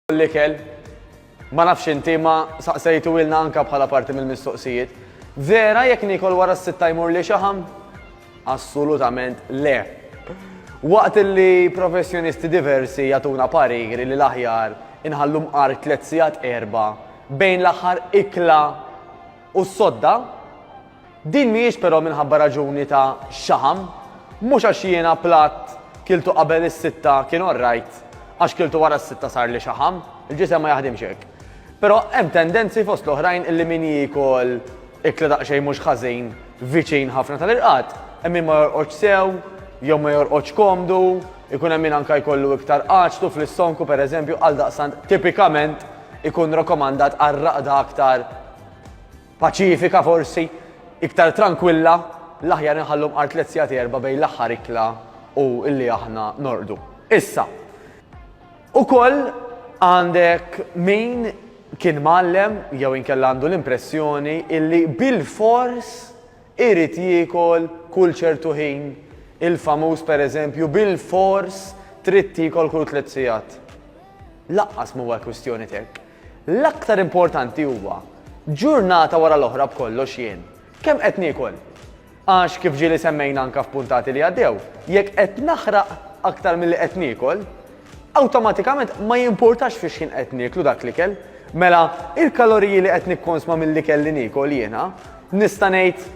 L-ikel, ma nafx inti ma saqsejtu ilna anka bħala parti mill-mistoqsijiet. Vera jekk nikol wara s-sitta jmur li xaħam? Assolutament le. Waqt li professjonisti diversi jatuna pariri li l-aħjar inħallu mqar tliet sigħat erba bejn l-aħħar ikla u s-sodda, Din mhijiex però minħabba raġuni ta' xaħam, mhux għax jiena platt kiltu qabel is-sitta kien orrajt, għax kiltu wara s-sitta sarli xaħam, il-ġisem ma jaħdimx hekk. Però hemm tendenzi fost l-oħrajn illi min jiekol ikla daqsxejn mhux ħażin viċin ħafna tal-irqad, hemm min ma jorqodx sew jew ma jorqodx komdu, ikun hemm min anke jkollu iktar għaġtu fl-issonku pereżempju, għaldaqstant tipikament ikun rakomandat għar-raqda aktar Paċifika forsi, iktar trankwilla, l-aħjar inħallu mqar tliet sigħat erbgħa bejn l-aħħar ikla u li aħna norqdu. Issa, ukoll għandek min kien mgħallem jew inkella għandu l-impressjoni illi bilfors irid jiekol kull ċertu ħin il-famuż pereżempju bilfors trid tiekol kull tliet sigħat. Laqqas m'huwa kwistjoni t'hekk. L-aktar importanti huwa, ġurnata wara l-oħra b'kollox jien, kemm qed niekol? Għax kif ġieli semmejna anke f'puntati li għaddew, jekk qed naħraq aktar milli qed niekol, awtomatikament ma jimpurtax fix-xħin qed nieklu dak l-ikel, mela il-kaloriji li qed nikkonsma mill-ikel li niekol jiena, nista' ngħid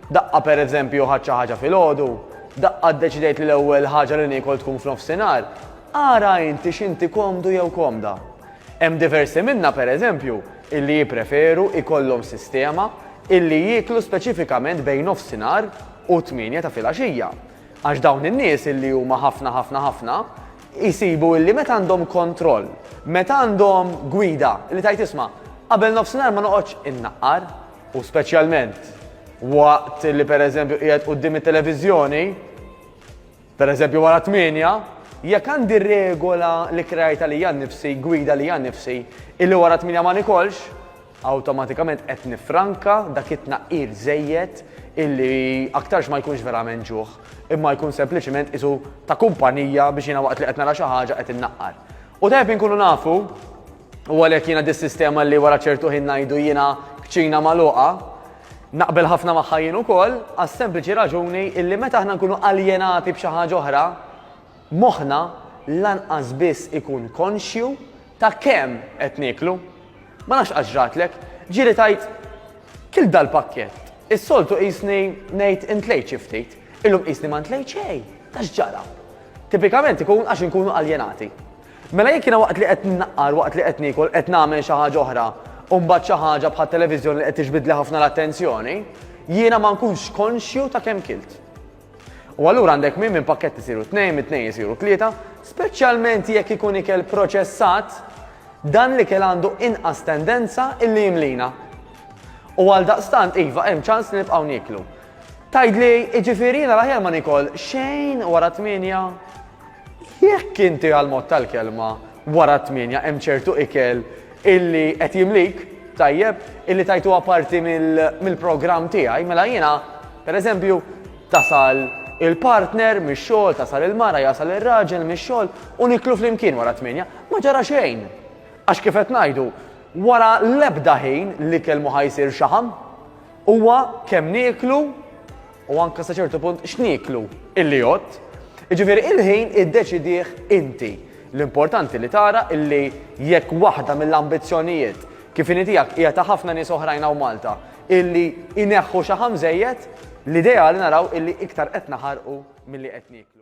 Daqqa pereżempju ħadt xi ħaġa filgħodu, daqqa ddeċidejt li l-ewwel ħaġa li niekol tkun f'nofsinhar, ara inti x'inti komdu jew komda. Hemm diversi minna pereżempju illi jippreferu ikollhom sistema illi jieklu speċifikament bejn nofsinhar u t-tmienja ta' filgħaxija. Għax dawn in-nies illi huma ħafna ħafna ħafna jsibu illi meta għandhom kontroll, meta għandhom gwida li tgħid isma' qabel nofsinhar ma noqgħodx innaqqar, U speċjalment waqt li pereżempju qiegħed quddiem it-televiżjoni, pereżempju wara tmienja, jekk għandi regola li krajta li għan nifsi, gwida li għan nifsi, illi wara tmienja ma nikolx, awtomatikament qed nifranka dak it-tnaqqir żejjed illi aktarx ma jkunx verament ġuħ, imma jkun sempliċement isu ta' kumpanija biex jiena waqt li qed nara xi ħaġa qed innaqqar. U tajb inkunu nafu U għalhekk jiena dis-sistema li wara ċertu ħin ngħidu jiena kċina magħluqa, naqbel ħafna magħha jien ukoll għas-sempliċi raġuni illi meta aħna nkunu aljenati b'xi ħaġa oħra, moħħna lanqas biss ikun konxju ta' kemm qed nieklu. Ma nafx qatt ġratlek, ġieli tajt kil dal-pakkett. Is-soltu qisni ngħid intlejt xi ftit, illum qisni ma ntlejt xejn, ta' x'ġara. Tipikament ikun għax inkunu aljenati. Mela jekk jiena waqt li qed nnaqqar, waqt li qed niekol, qed nagħmel xi ħaġa oħra, u mbagħad xi ħaġa bħat-televiżjoni li qed tiġbidli ħafna l-attenzjoni, jiena ma nkunx konxju ta' kemm kilt. U allura għandek min minn pakkett isiru tnejn, minn tnejn isiru tlieta, speċjalment jekk ikun ikel proċessat, dan l-ikel għandu inqas tendenza illi jimlina. U għaldaqstant iva hemm ċans li nibqgħu nieklu. Tgħidli, jiġifieri jiena l-aħjar ma nikol xejn wara tmienja? Jekk inti għall-mod tal-kelma wara t-tmienja hemm ċertu ikel illi qed jimlik, tajjeb, illi tajtuha parti mill-programm tiegħi, mela jiena, pereżempju, tasal il-partner mix-xogħol, tasal il-mara, jasal ir-raġel mix-xogħol u niklu flimkien wara t-tmienja, ma ġara xejn. Għax kif qed ngħidu, wara l-ebda ħin l-ikel mhu ħa jsir xaħam. Huwa kemm nieklu u anke sa ċertu punt x'nieklu illi jgħodd, jiġifieri il-ħin iddeċidih inti. L-importanti li tara illi jekk waħda mill-ambizzjonijiet kif inhi tiegħek hija ta' ħafna nies oħrajn hawn Malta illi jneħħu xaħam żejjed, l-ideali naraw illi iktar qed naħarqu milli qed nieklu.